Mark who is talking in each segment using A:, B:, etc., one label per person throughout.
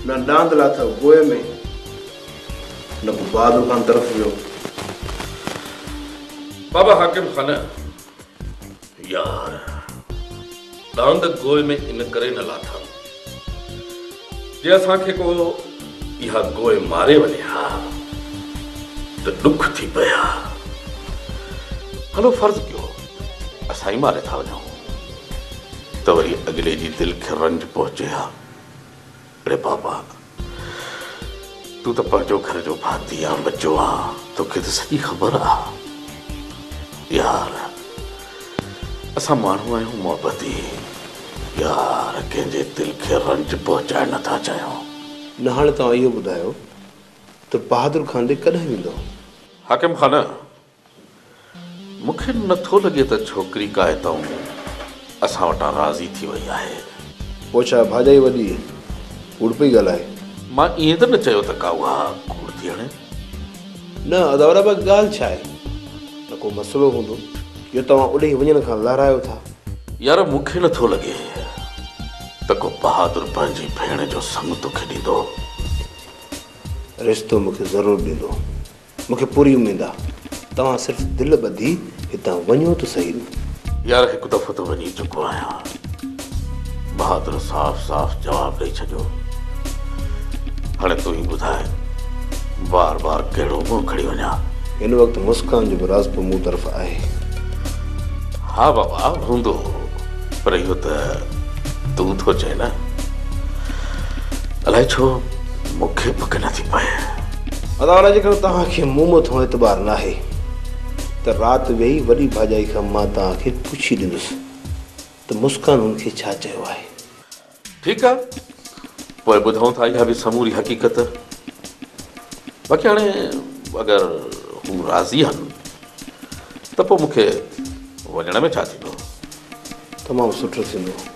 A: نه ڏاند لاٿو گوء ۾، نه ڪو بهادر خان طرف ويو.
B: بابا حاڪم خانه، يار! ڏاند گوء ۾ ان ڪري نه لاٿم، جي اسان کي ڪو اها گوء ماري وڃي ها ته ڏک ٿي پئي ها. هلو فرض ڪيو اسان ئي ماري ٿا وڃون ته وري اڳلي جي دل کي رنج پهچي ها. اڙي بابا تون ته پنهنجو گهر جو ڀاتي آن ٻچو آن توکي ته سڄي خبر آ يار اسان ماڻهو آهيون محبتي يار ڪنهن جي دل کي رنج پهچائڻ نه ٿا چاهيون. نه هاڻي توهان
A: اهو ٻڌايو ته بهادر خان ڏي ڪڏهن ويندو؟ حاڪم خان
B: مون کي نه ٿو لڳي ته ڇوڪري ڪا اتئون اسان وٽان راضي ٿي وئي آهي. پوء ڇا
A: ڀاڄائي وڏي ڪوڙ پئي ڳالهائي. مان ائين ته نه
B: چيو ته ڪا اها ڪوڙ ٿي هڻي. نه
A: اداورا به ڳالهه ڇا آهي. ته ڪو مسئلو هوندو جو توهان اڏهي وڃڻ کان لهرايو ٿا. يار مون کي
B: نه ٿو لڳي ته ڪو بهادر پنهنجي ڀيڻ جو سڱ توکي ڏيندو.
A: رشتو مون کي ضرور ڏيندو. مون کي پوري اميد آ توهان صرف دل ٻڌي هتان وڃو ته سهي نه. يار هڪ
B: دفعو ته وڃي چڪو آهيان. بهادر صاف صاف جواب ڏئي ڇڏيو. هاڻي تون ئي ٻڌاء بار بار ڪهڙو منهن کڻي وڃان. هن وقت
A: مسڪان جو به راضپو مون طرف آهي.
B: ها بابا هوندو پر اهو ته تون ٿو چئين نه. الائي ڇو مون کي پڪ نٿي پئي. ادا والا
A: جيڪڏهن توهان کي مون مٿان اعتبار ناهي ته رات ويهي وڏي ڀاڄائي کان مان توهان کي پڇي ڏندس ته مسڪان هن کي ڇا چيو آهي. ٺيڪ آ
B: پوء ٻڌون ٿا اها به سموري حقيقت باقي هاڻي اگر هو راضي آهن ته پوء مون کي وڃڻ ۾ ڇا ٿيندو. تمام
A: سٺو ٿيندو.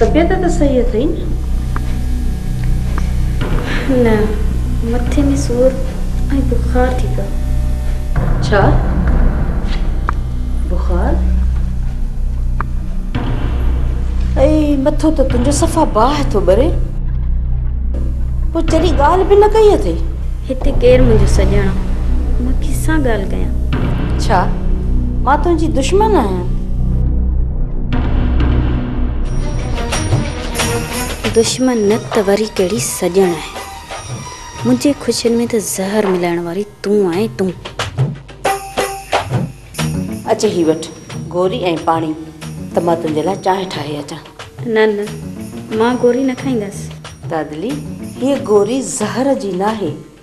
C: طبيعت ته صحيح اٿئي
D: نه؟ نه، مٿي ۾ سور ۽ بخار ٿي پيو. ڇا؟
C: بخار؟ اي مٿو ته تنهنجو صفا باهه ٿو ٻري. پوء چري ڳالهه به نه ڪئي اٿئي. هتي ڪير
D: منهنجو سڄڻ آ؟ مان ڪنهن سان ڳالهه ڪيان؟ ڇا
C: مان تنهنجي دشمن آهيان؟
D: دشمن نه ته وري ڪهڙي سڄڻ آهي. منهنجي خوشين ۾ ته زهر ملائڻ واري تون آهين تون.
C: اچ هي وٺ گوري ۽ پاڻي ته مان تنهنجي لاء چانهه ٺاهي اچان. نه نه
D: مان گوري نه کائيندس. دادلي
C: هيء گوري زهر جي ناهي.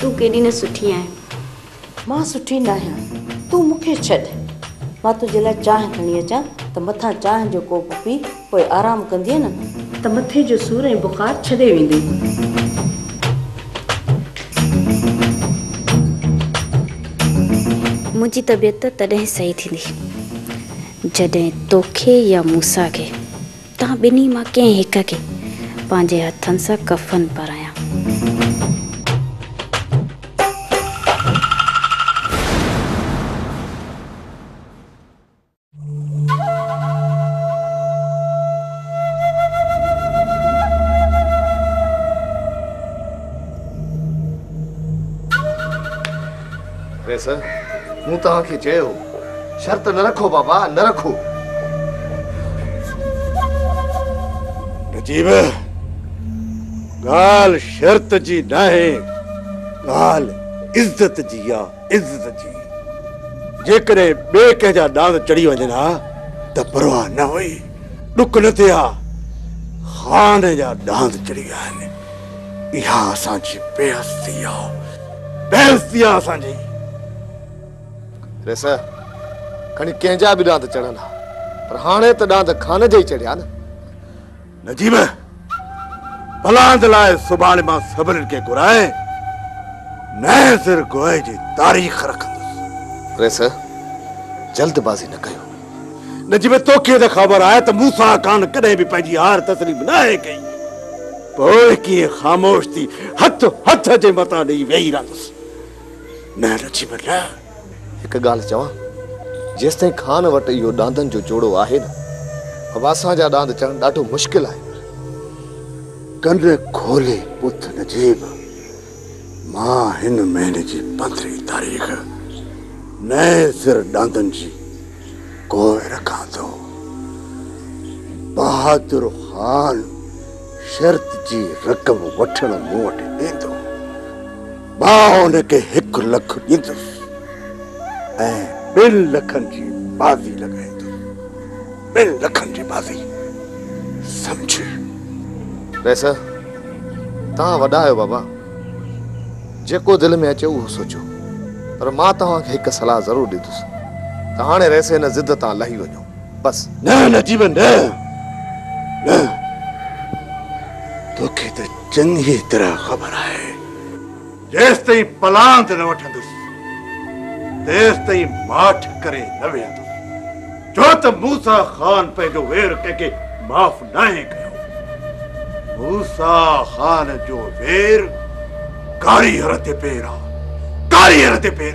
D: تون ڪيڏي نه سٺي آهين. مان
C: سٺي ناهيان تون مون کي ڇڏ. مان تنهنجي لاء چانهه کڻي اچان ته مٿان چانهه جو ڪوپ پي پوء آرام ڪندينء نه ته مٿي جو سور ۽ بخار ڇڏي ويندي. منهنجي
D: طبيعت تڏهن صحيح ٿيندي. جڏهن توکي يا موسيٰ کي، توهان ٻنهي مان ڪنهن هڪ کي، پنهنجي هٿن سان ڪفن پرايان.
A: قيصر، مون توهان کي چيو هو، شرط نه رکو بابا، نه رکو.
E: نجيب، ڳالهه شرط جي ناهي، ڳالهه عزت جي آ، عزت جي. جيڪڏهن ٻئي ڪنهن جا ڏاند چڙهي وڃن ها ته پرواهه نه هئي، ڏک نه ٿئي ها. خان جا ڏاند چڙهي ويا آهن. اها اسان جي بي عزتي آ بي عزتي آ اسان جي. ريس
F: کڻي ڪنهن جا به ڏاند چڙهن ها پر هاڻي ته ڏاند خان جا ئي چڙهيا نه. نجيب
E: بلاند لاء سڀاڻي مان سڀنن کي گهرائي نئين سر گوهي جي تاريخ رکندس. ريس
F: جلد بازي نه ڪيو. نجم
E: توکي ته خبر آهي ته موسيٰ خان ڪڏهن به پنهنجي هار تسليم ناهي ڪئي، پوء ڪيئن خاموش ٿي هٿ هٿ جي متان ڏيئي ويهي رهندس؟ نه نجم نه. هڪ ڳالهه
F: چوان، جيستائين خان وٽ اهو ڏاندن جو جوڙو آهي نه، واسان جا ڏاند چڙهڻ ڏاڍو مشڪل آهن.
E: ڪن کولي ٻڌ نجم، مان هن مهل جي پڌري تاريخ نئين سر ڏاندن جي ڪوهه رکان ٿو. بهادر خان شرط جي رقم وٺڻ مون وٽ ايندو، مان هن کي هڪ لک ڏيندس ۽ ٻن لکن جي بازي لڳائيندس. ٻن لکن جي بازي سمجهي.
F: رئيس، توهان وڏا آهيو بابا، جيڪو دل ۾ اچي اهو سوچيو، پر مان توهان کي هڪ صلاح ضرور ڏيندس ته هاڻي رئيس هن ضد تان لهي وڃو، بس. نه نجيب نه،
E: نه، توکي ته چڱيء طرح خبر آهي. جيستائين پلاند نه وٺندس، تيستائين ماٺ ڪري نه ويهندس، ڇو ته موسيٰ خان پنهنجو وير ڪنهن کي معاف ناهي ڪيو. موسيٰ خان جو وير ڪاري هر تي پير آ، ڪاري هر تي پير.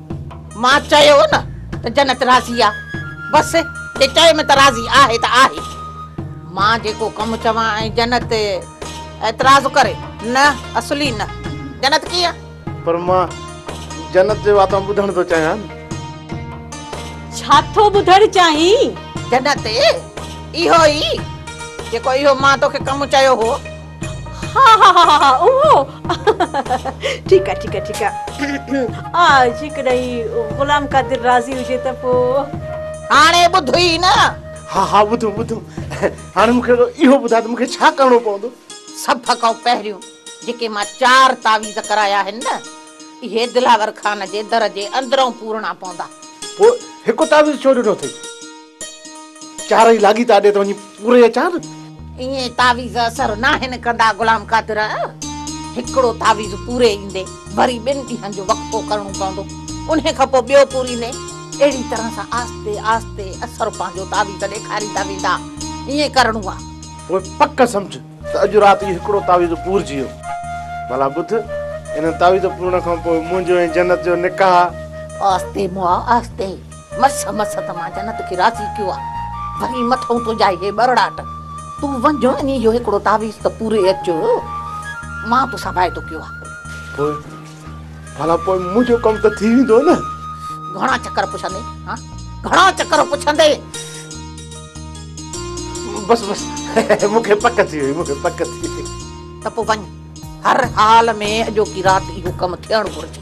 G: مان چيو نه ته جنت راضي آ، بس جي چئي م ته راضي آهي ته آهي. مان جيڪو ڪم چوان ۽ جنت اعتراض ڪري، نه اصلي نه، جنت ڪيئن؟ پر مان
A: جنت جي واتان ٻڌڻ ٿو چاهيان.
C: ڇا ٿو ٻڌڻ چاهين؟ جنت
G: اهو ئي جيڪو اهو مان توکي ڪم چيو هو. ها
C: ها ها ها اهو ٺيڪ آهي ٺيڪ آهي ٺيڪ آهي آء جيڪڏهن هي غلام قادر راضي هجي ته پوء هاڻي ٻڌ
G: ئي نه ها ها ٻڌو
A: ٻڌو هاڻي مون کي اهو ٻڌاء ته مون کي ڇا ڪرڻو پوندو سڀ کان
G: پهريون جيڪي مان چار تعويذ ڪرايا آهن نه اهي دلاور خان جي در جي اندرئون پورڻا پوندا پوء هڪ
A: تعويذ ڇو ڏنو اٿئي؟ چارئي لاڳيتا ڏي ته وڃي پوري اچان. ايئن تعويذ
G: اثر ناهن ڪندا غلام قادر. هڪڙو تعويذ پوري ايندي وري ٻن ڏينهن جو وقفو ڪرڻو پوندو. انهي کان پوء ٻيو پوريندي. اهڙي طرح سان آهستي آهستي اثر پنهنجو تعويذ ڏيکاريندا ويندا. ايئن ڪرڻو آ. پوء پڪ
A: سمجهه ته اڄ رات اهو هڪڙو تعويذ پورجي ويو. ڀلا ٻڌ، انهن تعويذ پورڻ کان پوء منهنجو ۽ جنت جو نڪاح. آهستي مئا
G: آهستي. مس مس ته مان جنت کي راضي ڪيو آ وري مٿئون تنهنجا اهي ٻرڙاٽ تون وڃ ۽ اهو هڪڙو تعويذ ته پوري اچ مان توسان واعدو ڪيو آ. پوء
A: ڀلا پوء منهنجو ڪم ته ٿي ويندو نه. گهڻا چڪر
G: پڇندين ها گهڻا چڪر پڇندين.
A: بس بس مون کي پڪ ٿي وئي مون کي پڪ ٿي وئي.
G: ته پوء وڃ هر حال ۾ اڄوڪي رات اهو ڪم ٿيڻ گهرجي.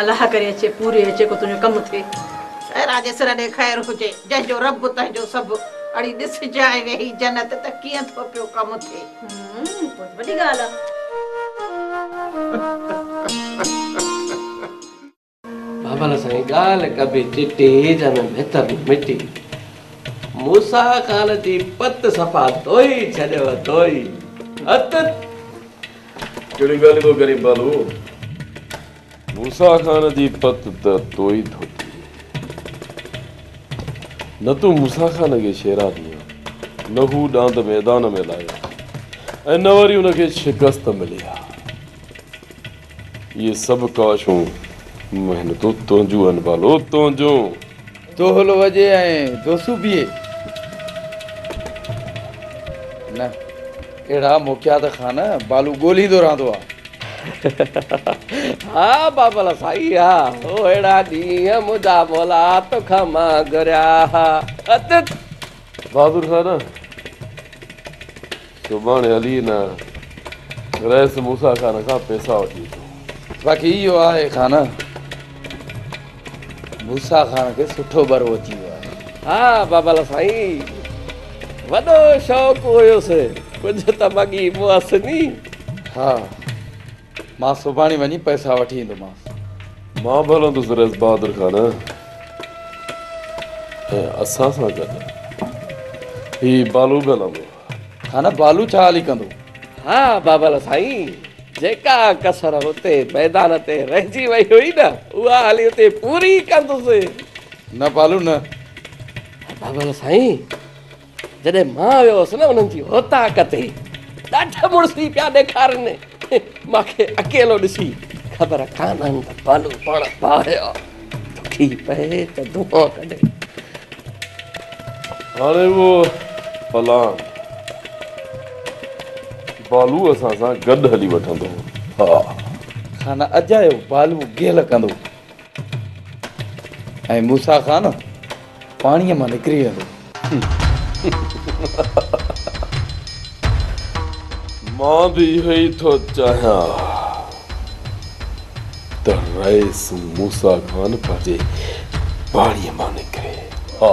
G: الله ڪري اچي
C: پوري اچي ڪو تنهنجو ڪم ٿئي. اي راڄي سر
G: ڏي خير هجي جنهن جو رب تنهن جو سڀ اڙي ڏس جاء ويهي جنت ته ڪيئن ٿو پيو ڪم ٿئي. هوم پوء ته وڏي ڳالهه
H: آ. بابل سائين ڳالهه ڪبي چٽي جنهن ۾ ڀت به مٽي موسيٰ خان جي پت صفا ڌوئي ڇڏيو ڌوئي ڀت.
I: ڪهڙيون ڳالهيون ٿو ڪرين پالو. موسيٰ خان جي پت ته توئي ڌوتي نه تون موسيٰ خان کي شيراني آن نه هو ڏاند ميدان ۾ لايو آن ۽ نه وري ان کي شڪست ملي آ اهي سڀ ڪاشون محنتون تنهنجون آهن پالو تنهنجون. دهل
J: وڄي ۽ دوسو بيهي. نه اهڙا موقعا ته خان بالو ڳولهيندو رهندو آ. ها
H: بابل سائين ها اهڙا ڏينهن منهنجا مولا توکان مان گهريا ها. بهادر
I: سان نه سڀاڻي هلي هن رئيس موسيٰ خان کان پيسا وٺي اچو. باقي اهو آهي
J: خان موسيٰ خان کي سٺو برو اچي ويو آهي. ها بابل
H: سائين وڏو شوق هيس ڪجهه ته مڳي مئس ني. ها.
J: مان سڀاڻي وڃي پئسا وٺي ايندومانس. مان به هلندس
I: رئيس بهادر خان ۽ اسان سان گڏ هي بالو به هلندو. خان، بالو
J: ڇا هلي ڪندو؟ ها بابل
H: سائين، جيڪا ڪسر هتي ميدان تي رهجي وئي هئي نه، اها هلي اتي پوري ڪندس. نه بالو
J: نه. بابل
H: سائين! جڏهن مان ويو هوس نه انهن جي اوطاق تي ڏاڍ مڙسي پيا ڏيکارن مان کي اڪيلو ڏسي خبر ڪانهن ته بالو پاڻ باهه دکي پئي ته دونهون ڪڍي.
I: هاڻي اهو پلان بالو اسان سان گڏ هلي وٺندو. ها.
J: خانه اجايو بالو گيل ڪندو. ۽ موسيٰ خان پاڻيء مان نڪري ويندو.
I: مان به اهو ئي ٿو چاهيان ته رئيس موسيٰ خان پنهنجي پاڻيء مان نڪري. ها.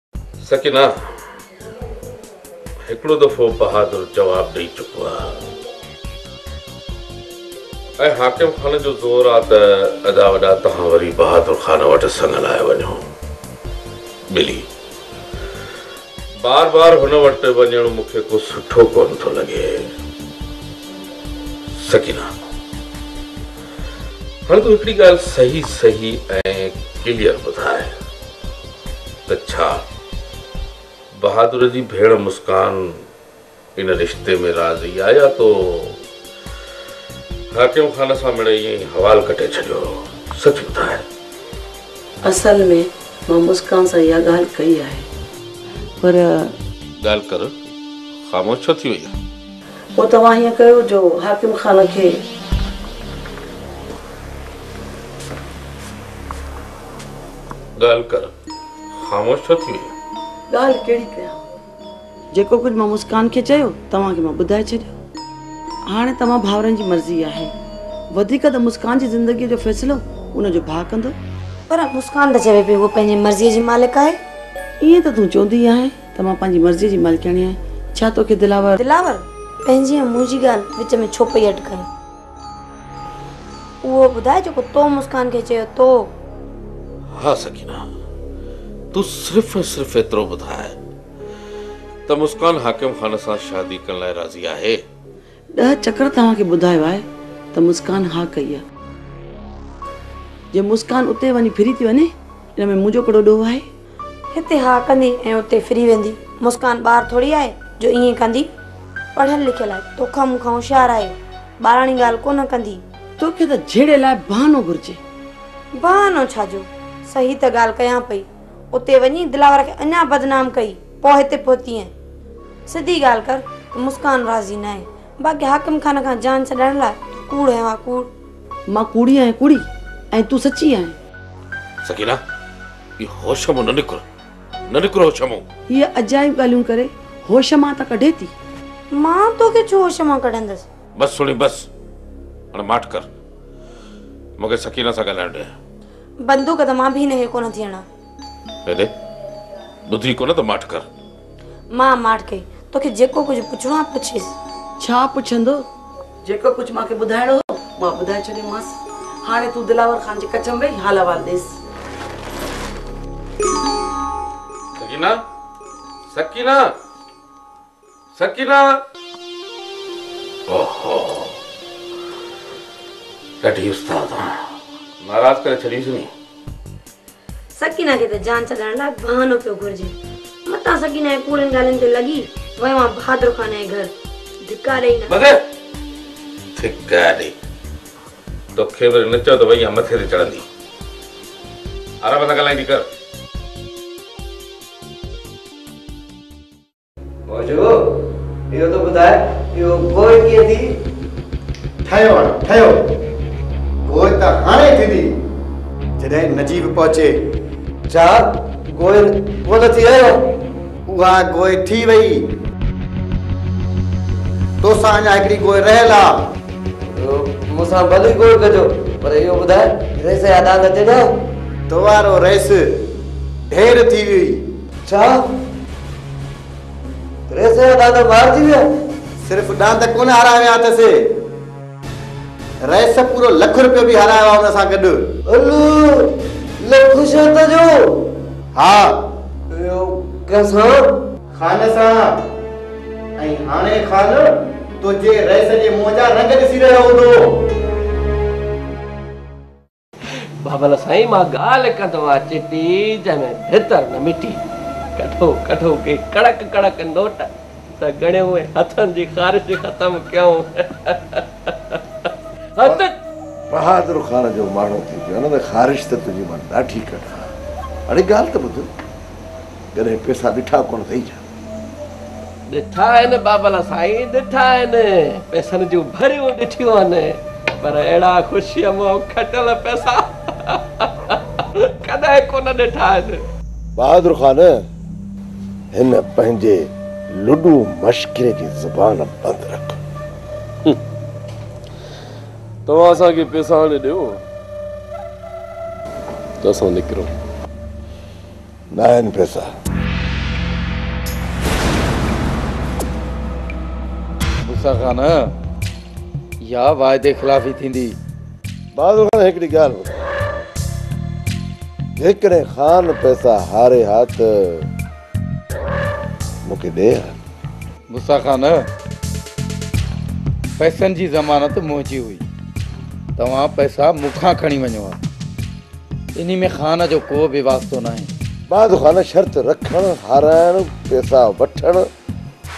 B: سڪينه هڪڙو دفعو بهادر جواب ڏئي چڪو آ ۽ حاڪم خان جو زور آ ته ادا وڏا توهان وري بهادر خان وٽ سڱ لاء وڃو. ٻلي بار بار هن وٽ وڃڻ مون کي ڪو سٺو ڪونه ٿو لڳي. سڪينه هاڻي تون هڪڙي ڳالهه صحيح صحيح ۽ ڪليئر ٻڌاء. ته ڇا؟ بهادر جي ڀيڻ مسڪان ان رشتي ۾ راضي آ يا تو حاڪم خان سان مڙئي ائين ئي حوال ڪٽي ڇڏيو هو؟ سچ ٻڌاء.
C: اصل ۾ مان مسڪان سان اها ڳالهه ڪئي آهي پر. ڳالهه
B: ڪر، خاموش ڇو ٿي وئي آهين؟ پوء توهان هيئن
C: ڪيو جو حاڪم خان کي.
B: ڳالهه ڪر، خاموش ڇو ٿي وئين؟ ڳالهه ڪهڙي
C: ڪيان؟ جيڪو ڪجهه مان مسڪان کي چيو، توهان کي مان ٻڌائي ڇڏيو. هاڻي توهان ڀائرن جي مرضي آهي. وڌيڪ ته مسڪان جي زندگيء جو فيصلو ان جو ڀاء ڪندو. پر مسڪان
K: ته چوي پئي هوء پنهنجي مرضيء جي مالڪ آهي. ائين ته تون
C: چوندي آهين ته مان پنهنجي مرضيء جي مالڪياڻي آهيان. ڇا توکي دلاور. دلاور! پنهنجي
K: ۽ منهنجي ڳالهه وچ ۾ ڇو پئي اٽڪائين؟ اهو ٻڌاء جيڪو تو مسڪان کي چيو تو.
B: ها سڪينه تون صرف ۽ صرف ايترو ٻڌاء ته مسڪان حاڪم خان سان شادي ڪرڻ لاء راضي آهي؟ ڏهه چڪر
C: توهان کي ٻڌايو آهي ته مسڪان ها ڪئي آهي. جي مسڪان اتي وڃي ڦري ٿي وڃي ان ۾ منهنجو ڪهڙو ڏوهه آهي؟ هتي ها
K: ڪندي ۽ اتي ڦري ويندي. مسڪان ٻار ٿوري آهي جو ائين ڪندي. پڙهيل لکيل آهي. توکان مون کان هوشيار آهي. ٻاراڻي ڳالهه ڪونه ڪندي. توکي ته جهيڙي
C: لاء بهانو گهرجي. بهانو
K: ڇا جو؟ صحيح ته ڳالهه ڪيان پئي. اتي وڃي دلاور کي اڃا بدنام ڪئي پوء هتي پهتينء. سڌي ڳالهه ڪر ته مسڪان راضي ناهي. باقي حاڪم خان کان جان ڇڏائڻ لاء تو ڪوڙ هينء ها ڪوڙ. مان
C: ڪوڙي آهيان ڪوڙي ۽ تون سچي
B: آهين.
C: سڪينه هي
B: هوش مان نه نڪر نه نڪر هوش مان. هيء عجائب ڳالهيون
C: ڪري هوش مان ته ڪڍي ٿي. مان توکي
K: ڇو هوش مان ڪڍندس. بس سهڻي بس
B: هاڻي ماٺ ڪر مون کي سڪينه سان ڳالهائڻ ڏي. بندوق ته
K: مان به هن کي ڪونه ٿي هڻان. هيڏي
B: ٻڌئي ڪونه ته ماٺ ڪر. مان ماٺ
K: ڪئي. توکي جيڪو ڪجهه پڇڻو آهي پڇيس. ڇا پڇندو؟
C: جيڪو ڪجهه مان کي ٻڌائڻو هو مان ٻڌائي ڇڏيومانس. هاڻي تون دلاور خان جي ڪچ ۾ ويهي حال احوال ڏيس. سڪينه!
B: سڪينه! سڪينه! اوهو! ڏاڍي استاد آهيان. ناراض ڪري ڇڏينس ني.
K: سڪينه کي ته جان ڇڏڻ لاء بهانو پيو گهرجي. متان سڪينه جي ڪوڙين ڳالهين تي لڳي ويو آ بهادر خان جي گهر. ڌڪا ڏئي نه. مگر
B: ڌڪا ڏئي توکي به نه چيو ته وئي آ مٿي تي چڙهندي. عرب سان ڳالهائيندي ڪر.
L: ڀوڄو، اهو ته ٻڌاء، اهو گوء ڪيئن ٿي؟ ٺهيو
M: هاڻ، ٺهيو. گوء ته هاڻي ٿيندي، جڏهن نجيب پهچي. ڇا،
L: گوء ڪو نه ٿي رهيو؟ اها گوء
M: ٿي وئي. تو سان اڃا هڪڙي گوء رهيل آ. مون سان ڀلي گوء
L: ڪجو، پر اهو ٻڌاء، رئيس جا ڏاند چيڏا؟ تو وارو
M: رئيس ڍير ٿي ويئي. ڇا؟
L: ريس جا ڏاند مارجي ويا؟ صرف ڏاند
M: ڪونه هارايا ويا اٿس. ريس پورو لک روپيو به هارايو آهي ان سان گڏ. الو! لک
L: شرط جو؟ ها.
M: اهو
L: ڪنهن سان؟ خان
M: سان. ۽ هاڻي خان تنهنجي ريس جي منهن جا رنگ ڏسي رهيو هوندو.
H: بابل سائين مان ڳالهه ڪندو آهيان چٽي جنهن ۾ ڀتر نه مٽي ڪڍو ڪڍو ڪي ڪڙڪ ڪڙڪ نوٽ ته ڳڻيو ۽ هٿن جي خارش ختم ڪيون هت
E: بهادر خان جو ماڻهو ٿي پيو نه ته خارش ته تنهنجي مان ڏاڍي ڪڍان اڙي ڳالهه ته ٻڌ ڪڏهن پيسا ڏٺا ڪونه اٿئي ڇا؟
H: ڏٺا آهن بابل سائين ڏٺا آهن پئسن جون ڀريون ڏٺيون آهن پر اهڙا خوشيء منهن کٽيل پئسا ڪڏهن ڪونه ڏٺا آهن. بهادر خان
E: هن پنهنجي لڏو مشڪري جي زبان بند رک.
I: توهان اسان کي پئسا آڻي ڏيو ته اسان نڪرون.
E: ناهن پيسا.
J: موسيٰ خان، اها واعدي خلافي ٿيندي. بهادر
E: خان، هڪڙي ڳالهه ٻڌاء، جيڪڏهن خان پيسا هاري ها ته مون کي ڏي ها. غصه
J: کان نه پئسن جي ضمانت منهنجي هئي توهان پئسا مون کان کڻي وڃو ها انهي ۾ خان جو ڪو به واسطو ناهي. بعد خان شرط
E: رکڻ هارائڻ پئسا وٺڻ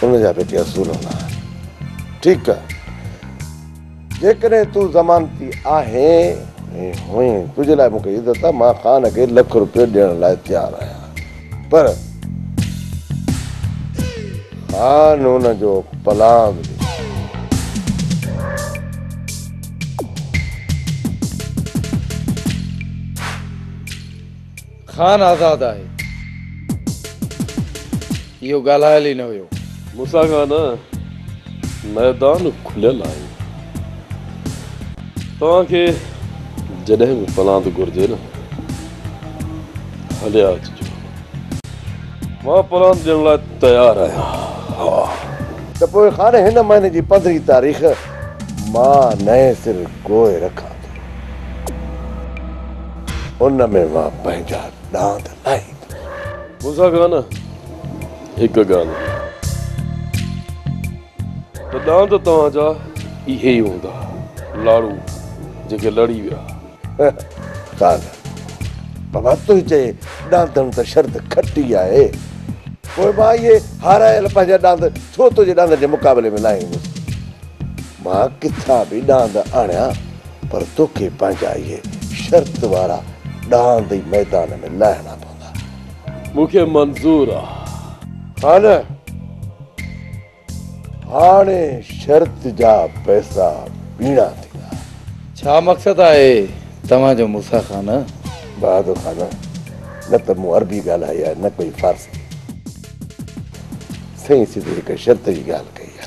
E: ان جا به ڪي اصول هوندا آهن ٺيڪ آهي. جيڪڏهن تون ضمانتي آهين هئين تنهنجي لاء مون کي عزت آهي مان خان کي لک روپيو ڏيڻ لاء تيار آهيان پر خان هن جو پلاء به ڏسي.
J: خان آزاد آهي. اهو ڳالهايل ئي نه هيو. مونسان کان نه
I: ميدان کليل آهي. توهان کي جڏهن به پلاند گهرجي نه هليا اچجو. مان پلاند ڏيڻ لاء تيار آهيان. ته پوء
E: خان هن مهيني جي پندرهين تاريخ مان نئين سر گوء رکان. ان ۾ مان پنهنجا ڏاند لاهيندس. مون سان گانه
I: هڪ گانه. ته ڏاند توهان جا اهي ئي هوندا لاڙو جيڪي لڙي ويا. ڪالهه
E: بابا تنهنجي چئي ڏاندڻ ته شرط کٽي آهي. پوء مان اهي هارايل پنهنجا ڏاند ڇو تنهنجي ڏاندن جي مقابلي ۾ لاهيندس. مان ڪٿان به ڏاند آڻيان پر توکي پنهنجا اهي شرط وارا ڏاند ئي ميدان ۾ لاهڻا پوندا. مون کي منظور
I: آ. ها نه.
E: هاڻي شرط جا پئسا ٻيڻا ٿيندا.
J: ڇا مقصد
E: آهي
J: توهان جو موسيٰ
E: خان؟ بهادر
J: خان،
N: نه ته مون عربي ڳالهائي آ نه ڪوئي فارسي. سائين سڌي هڪ شرط جي ڳالهه ڪئي آ.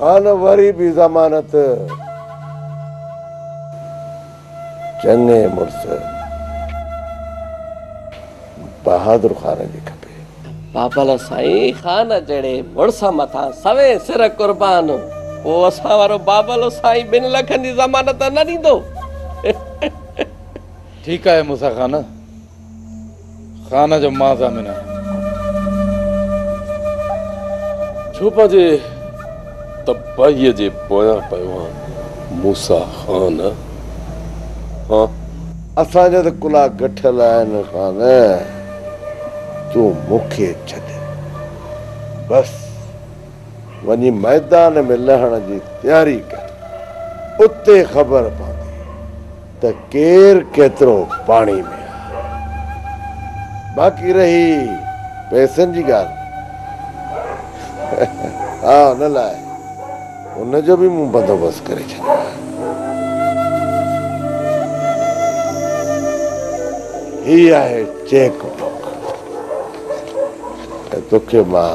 I: هان
N: وري به ضمانت. چڱي مڙس بهادر خان جي کپي. بابل
H: سائين خان جهڙي مڙس مٿان سوين سر قربان پوء اسان وارو بابل سائين ٻن لکن جي ضمانت نه ڏيندو.
J: ٺيڪ آهي موسيٰ خان. خان جو مان ضامن آهيان.
I: ڇوپا جي تباهيء جي پويان پيوان موسيٰ خان هان.
N: اسان جا ته ڪلها گٺل آهن خان، تون مون کي ڇڏ. بس وڃي ميدان ۾ لهڻ جي تياري ڪر، اتي خبر پوندي. ته ڪير ڪيترو پاڻي ۾ آهي. باقي رهي پئسن جي ڳالهه، ها ان لاء ان جو به مون بندوبست ڪري ڇڏيو آهي. هي آهي چيڪ بوڪ ۽ توکي مان